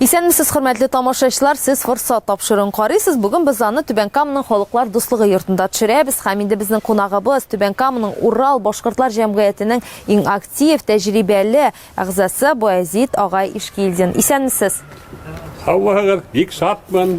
Исәнмесез, хөрмәтле тамашачылар! Сез Форсат тапшыруын карыйсыз. Бүген без аны Түбән Каманың Халыклар дуслыгы йортында төшерәбез. Һәм инде безнең кунагыбыз Түбән Каманың Урал башкортлар җәмгыятенең иң актив, тәҗрибәле әгъзасы Баязит агай Ишкилдин. Исәнмесез! Саулыгыгыз, бик шатмын.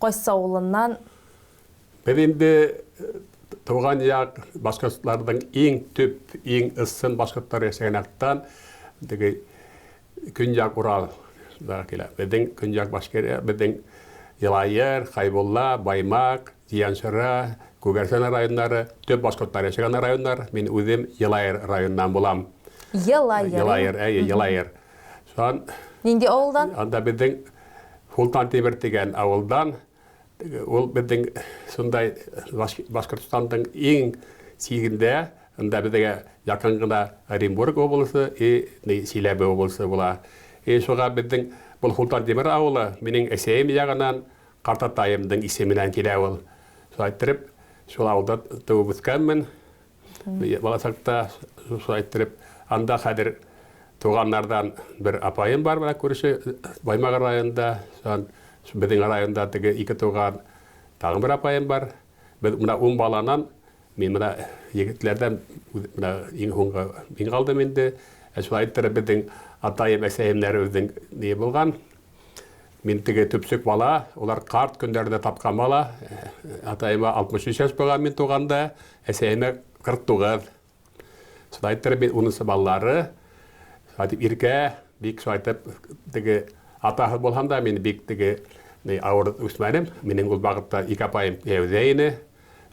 Кайсы авылыннан? Без инде туган як башкортларның иң төп, иң ысын башкортлар яшәгән яктан, теге көньяк Урал да килә. Безнең көньяк башкирия, безнең Елаер, Хайбулла, Баймак, Зияншыра, Күгәрсен районнары, төп башкортлар яшәгән районнар. Мин үзем Елаер районыннан булам. Елаер. Елаер, әйе, Елаер. Сон Нинди авылдан? Анда безнең Султан Тимер дигән авылдан ул безнең шундай Башкортстанның иң сигендә, анда безгә якын гына Оренбург облысы и Силәбе облысы була. И шуга безнең бу Султан Тимер авылы минем әсәем ягынан картатаемның исеменнән килә ул. Шулай иттереп, шул авылда туып үскәнмен. Баласакта шулай иттереп, анда хәзер туганнардан бер апаем бар, менә күрше Баймагыр районында, безнең районда теге ике туган, тагын бер апаем бар. Без менә ун баланан, мин менә егетләрдән менә иң һуңгы мин калдым инде. Ә шулай иттереп безнең атаем, әсәемнәр үзенең ни булган. Мин теге төпчек бала, улар карт көннәрдә тапкан бала. Атаема 63 яшь булган мин туганда, әсәемә 49. Шулай иттереп мин унынчы балалары. Шулай дип иркә, бик шулай итеп теге атаһыз булһам да, мин бик теге ни авыр үсмәдем. Минем ул вакытта ике апаем кияүдә иде.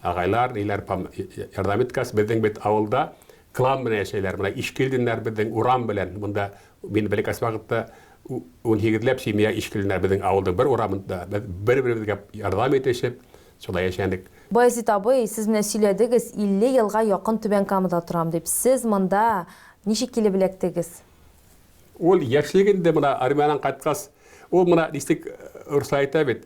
Агайлар, ниләр пам ярдәм иткәс, безнең бит авылда Клан белән яшәйләр. Менә Ишкилдиннар безнең урам белән монда, мин бәләкәс вакытта унһигезләп семья Ишкилдиннар безнең авылның бер урамында. Без бер-беребезгә ярдәм итешеп, шулай яшәдек. Баязит абый, сез менә сөйләдегез, 50 елга якын Түбән Камада торам дип. Сез монда ничек килеп эләктегез? Ул яшьлек инде, менә армиядән кайткач, ул менә ничек русча әйтә бит,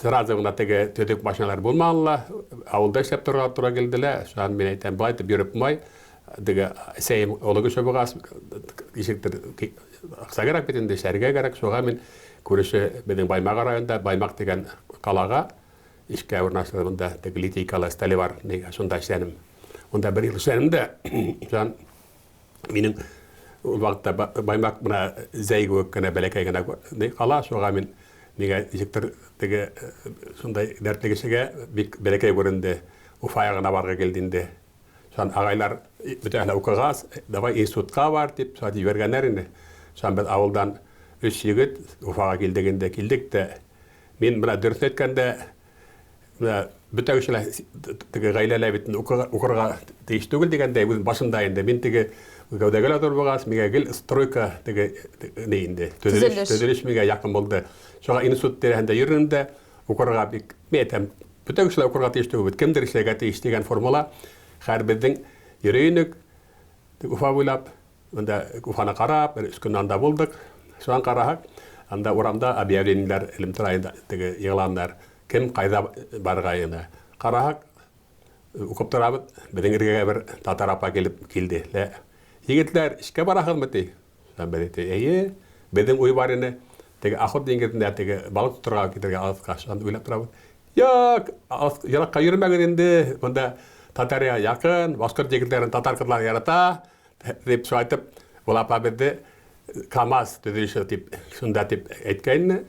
сразу гына теге төдек машиналар булмалла, авылда эшләп торырга туры килделә. Шуан мин әйтәм, бай дип йөреп май, диге сәем олы кеше бугас, ишектер акса кирәк бит инде, эшләргә кирәк. Шуга мин күреше безнең Баймак районында, Баймак дигән калага эшкә урнаштырдым монда, теге литейкалы столевар, шунда эшләдем. Монда бер ел эшләдем дә, шуннан Минем ул вакытта баймак бына зәй кебек кенә бәләкәй генә кала, шуга мин миңа ничектер теге шундай дәртле кешегә бик бәләкәй күренде. Уфага гына барырга килде инде. Шуннан агайлар бөтәһенә укыгас, давай институтка бар, дип шулай җибәргәннәр инде. Шуннан без авылдан өч егет Уфага килдек инде. Килдек тә, мин бына дөресен әйткәндә, бөтәү эшенә теге гаиләләр бит укырга тиеш түгел дигәндәй, үз башында инде. Мин теге гәүдәгә лә булгач, миңа гел стройка теге ни инде, төзелеш, төзелеш миңа якын булды. Шуңа институт тирәһендә йөрдем дә, укырга бик, мин әйтәм, бөтәү кешеләр укырга тиеш түгел, кемдер эшләргә тиеш дигән формула. Хәер, безнең йөри идек Уфа буйлап, Анда Уфаны карап, бер өч көн анда булдык. Шуннан карасак, анда урамда объявлениеләр, элемтәр ай теге игъланнар, кем кайда барырга янә. Карасак, укып торабыз, безнең эргәгә бер татар апа килеп килде. Лә, Егетләр, эшкә барасызмы? ди. Шуннан без әйттек, Әйе, безнең уй бар иде, теге Охот диңгезендә теге балык тотарга китәргә алыска. Шуннан уйлап торабыз. Юк, алыска, еракка йөрмәгез инде, монда Татария якын, башкорт егетләрен татар кызлары ярата, Дип шайтып, ул апа безне КАМАЗ төзелеше дип, шунда дип әйткәйне.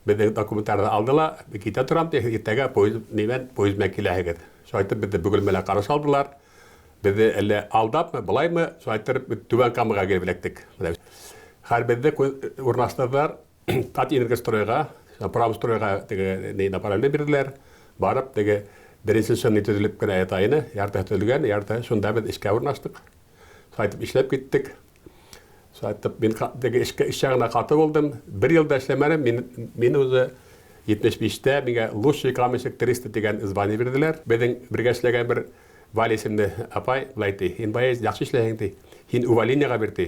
Безнең документларны алды ла, китә торам ди, иртәгә поезд белән поезд белән киләһегез. Шайтып безне бөгелмәләр каршы алдылар. Безне әллә алдапмы, болаймы, шайтырып Түбән Камага килеп эләктек. Менә хәл безне урнаштырдылар. Ат инергә стройга, право стройга теге ней на параллель бирделәр. Барып теге беренче сынны төзелеп кенә ята ине. Ярты төзелгән, ярты шунда без эшкә урнаштык. Сайтып эшләп киттек. Сайтып мин теге эшкә эшчә генә каты булдым. Бер елда эшләмәдем. Мин мин үзе 75-тә миңа лучший каменщик 300 дигән звание бирделәр. Безнең бергә эшләгән бер Валя исемле апай, лайти, ин бай, яхшы эшләһең ди. Һин увольнениегә бир ди.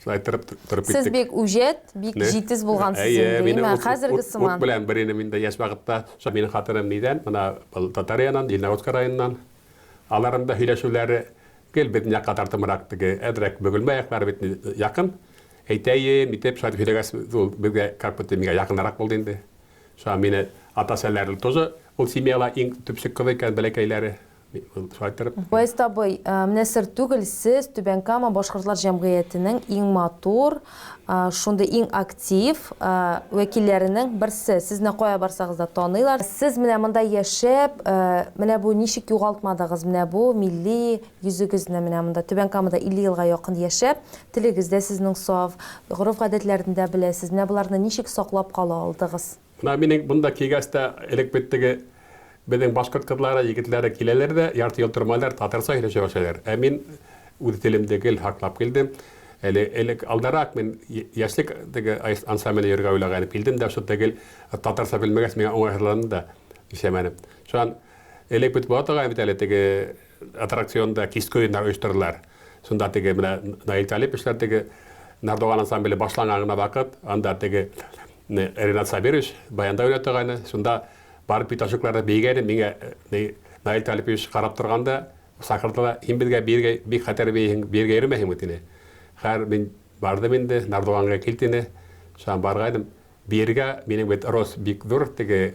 Шулай тырып тырып киттек. Сез бик үҗәт, бик җитез булгансыз инде. Әйе, мин хәзерге сыман. Ут белән бер инде мин дә яшь вакытта, шул минем хатыным нидән, мына был Татариянан, Лениногорска районыннан. Аларның да һөйләшүләре гел безнең якка тартымрак теге, әдрәк бөгелмә яклары бит якын. Әйтәем, итеп шулай һөйләгәс, ул безгә как будто миңа якынрак булды инде. Шуңа мине атасы-әниләре тоже ул семьяла иң төпчек кызы икән, бәләкәйләре. Баязит абый, менә сер түгел, сез Түбән Кама башкортлар җәмгыятенең иң матур, шундый иң актив вәкилләренең берсе. Сезне кая барсагыз да таныйлар. Сез менә монда яшәп, менә бу ничек югалтмадыгыз менә бу милли йөзегезне менә монда Түбән Камада 50 елга якын яшәп, телегез дә сезнең саф, гореф-гадәтләрен дә беләсез, менә боларны ничек саклап кала алдыгыз? Менә минең монда килгәч тә, элек бит теге безнең башкорт кызлары, егетләре киләләр дә, ярты ел тормалар, татарча сөйләшә башлыйлар. Ә мин үз телемне гел һаклап килдем. Әле элек алдарак мин яшьлек теге ансамбльдә йөрергә уйлаган идем. Килдем дә, шунда гел татарча белмәгәч, миңа уңайсызланды да, нишләмәдем. Шуннан элек бит була торган бит әле теге Аттракцион да киске уеннар оештырдылар. Шунда теге менә Наил Талиповичлар теге Нардуган ансамбле башланган гына вакыт, анда теге Ренат Сабирович баянда уйнап торгайны, шунда барып бит ошукларда биегәйнем, миңа Наил Талипович карап торганда сакырдыла, һин безгә биергә бик хәтәр биисең, биергә йөрмәһеңме, дине. Хәер, мин бардым инде, Нардуганга кил, дине, шуңа баргайным. Биергә минем бит рост бик зур, теге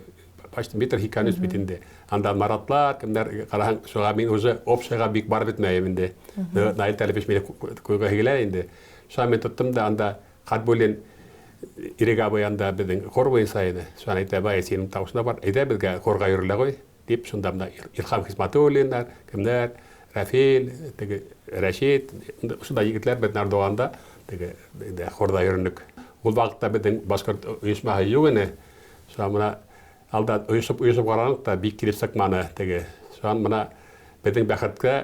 почти метр һикән өс бит инде. Анда Маратлар, кемнәр караһаң, шуга мин уже общага бик барып бетмәем инде. Наил Талипович мине куйга һигелә инде. Шуга мин тоттым да анда Хатбуллин Ирек абый анда безнең хор буенча иде. Шуга әйтә, бай, синең тавышына бар, әйдә безгә хорга йөрелә гой. Дип, шунда менә Илһам Хисмәтуллиннар, кемнәр, Рәфил, теге Рәшит, шунда егетләр бит Нардуганда, теге инде хорда йөрдек. Ул вакытта безнең башкорт оешмасы юк иде. Шуңа менә алда оешып, оешып карадык та, бик килеп чыкмады теге. Шуңа менә безнең бәхеткә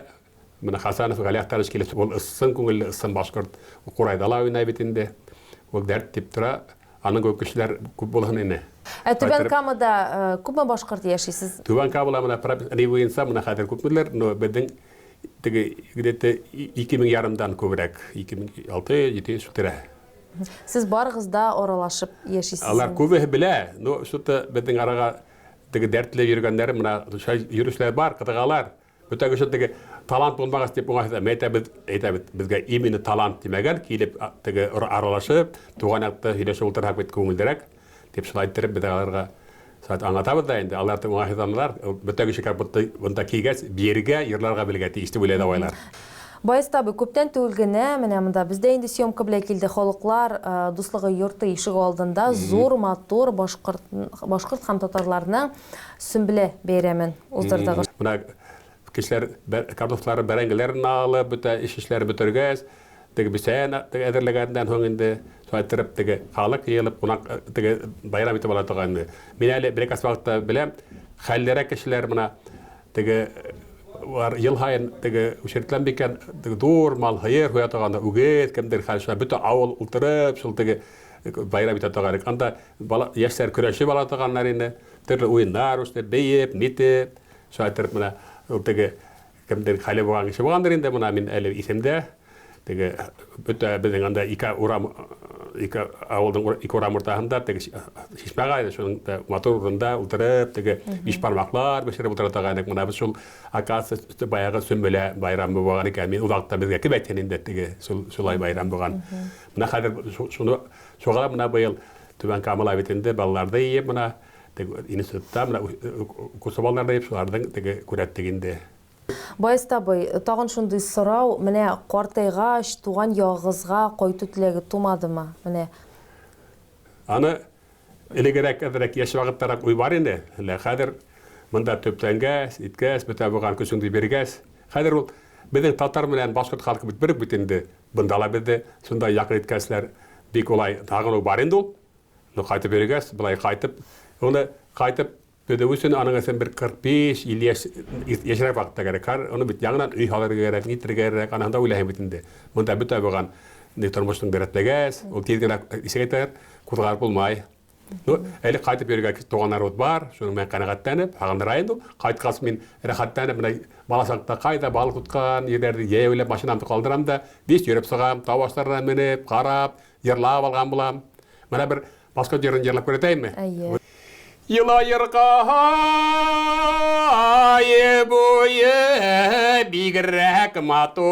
менә Хәсәнов Гали Әхтәрович килеп, ул ысын күңелле, ысын башкорт, Курайда ла уйный бит инде. Ул дәрт дип тора. Аның кебек кешеләр күп булһын ине. Ә Түбән Камада күпме башкорт яши? Сез. Түбән Камада менә прописный буенча менә хәзер күпмедер, но безнең теге где-то ике мең ярымдан күбрәк, 2600-700 тирәһе. Сез барыгыз да аралашып яшисез. Алар күбеһе белә, но что-то безнең арага теге дәртле йөргәннәр менә шулай йөрүчеләр бар, кызыгалар. Бүтән өчен теге талант булмагач дип уңайсыз әмма әйтәбез, әйтәбез, безгә именно талант димәгән, килеп теге аралашып, туган якта сөйләшеп утырсак бит күңеллерәк, дип шулай иттереп без аларга шулай аңлатабыз да инде, алар да уңайсызланалар, бүтән кеше как будто монда килгәч биергә, йырларга белергә тиеш дип уйлый давайлар. Баязит абый, күптән түгел генә менә монда без дә инде съемка белән килдек, халыклар дуслыгы йорты ишегалдында зур матур башкорт, башкорт һәм татарларның Сөмбелә бәйрәмен уздырдыгыз. Менә кешеләр картуфларын, бәрәңгеләрен алып, бөтә эш эшләре бетергәч, теге бесәен әзерләгәннән соң инде, шулай иттереп, теге халык җыелып, кунак теге бәйрәм итеп ала торган инде. Мин әле бер-ике асфальтта беләм, хәллерәк кешеләр менә теге бар ел һаен теге учреттан бикән теге зур мал һыер һуя торган, үгез, кемдер хәл шулай бөтә авыл утырып, шул теге бәйрәм итә торган идек. Анда Бала, яшьләр көрәшеп ала торганнар инде. Төрле уеннар үсте, биеп, нитеп. Шулай иттереп менә ул теге кемдер хәле булган кеше булгандыр инде, менә мин әле исемдә. Теге бөтә безнең анда ике урам, ике авылның ике урам уртасында теге чишмә бар иде, шуның да матур урында утырып, теге бишбармаклар бешереп утыра торган идек. Менә без шул, оказывается, баягы Сөмбелә байрамы булган икән. Мин ул вакытта безгә кем әйтсен инде, теге шулай байрам булган. Менә хәзер шуны Шуңа да менә быел Түбән Кама ла бит инде балаларда иеп менә теге институтта менә укучы балалар да иеп шуларның теге күрәттек инде. Баязит абый, тагын шундый сорау, менә картайгач, туган ягыгызга кайту теләге тумадымы? Менә. Аны элегерәк, әзрәк яшь вакыттарак уй бар иде, лә хәзер монда төпләнгәч, иткәч, бөтә булган көчеңне биргәч, хәзер ул безнең татар белән башкорт халкы бит бер үк бит инде, Бында ла безне шунда якын иткәнчеләр бик улай сагыну бар инде ул. Ну кайтып йөргәч, болай кайтып, уны кайтып төзү өчен аның өчен бер 45-50 яшь яшьрәк вакытта кирәк. Хәзер аны бит яңадан өй салырга кирәк, нитергә кирәк, аныһын да уйлаһын бит инде. Монда бөтә булган тормышның дәртләгәч, ул тиз генә ишек әйтәләр, кузгалып булмай. Ну, әле кайтып йөрергә туганнар ут бар, шуның белән канәгатьтәнеп, сагындыра инде ул. Кайткач мин рәхәтләнеп менә бала чакта кайда балык тоткан җирләрне җәяүләп машинамны калдырам да, биш йөреп чыгам, тау ашларына менеп, карап, җырлап алган булам. Менә бер Москва җырын җырлап күрсәтәйме? Әйе. Елаерга ае буе бигрәк матур,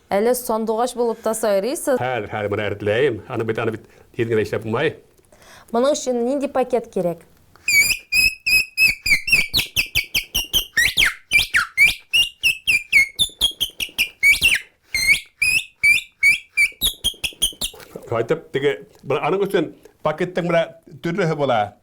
Әле сандугач булып та сайрыйсыз. Хәер, хәер, моны әретләйем. Аны бит, аны бит тиз генә эшләп булмай. Моның өчен нинди пакет кирәк? Кайтып, теге, аның өчен пакеттың менә төрлеһе була.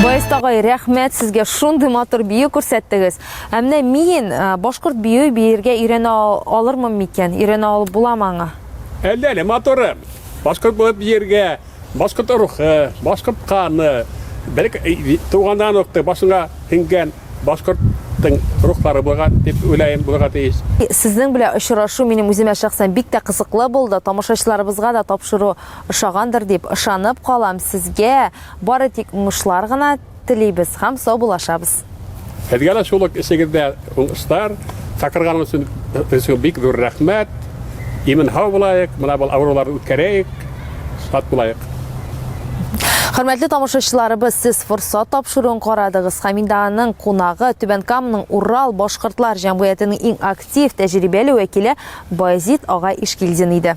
Баяст агай, рәхмәт сезгә, шундый матур бию күрсәттегез. Ә менә мин башкорт бию биергә өйрәнә алырмын микән? Өйрәнә алып буламы аңа? Әллә әле матурым. Башкорт булып биергә, башкорт рухы, башкорт каны, бер туганнан ук башыңа һеңгән Башкорт тың рухлары булырга дип уйлаем, булырга тиеш. Сезнең белән очрашу минем үземә шәхсән бик тә кызыклы булды, тамашачыларыбызга да тапшыру ошагандыр дип ышанып калам, сезгә бары тик уңышлар гына телибез һәм сау булашабыз. Сезгә дә шул ук эшегездә уңышлар, чакырганыгыз өчен бик зур рәхмәт, имин-һау булаек, менә бул авыруларны үткәрәек. Шат булайык! Хөрмәтле тамашачыларыбыз, сез форсат тапшыруын карадыгыз һәм инде аның кунагы Түбән Камның Урал башкортлар җәмгыятенең иң актив, тәҗрибәле вәкиле Баязит ага Ишкилдин иде.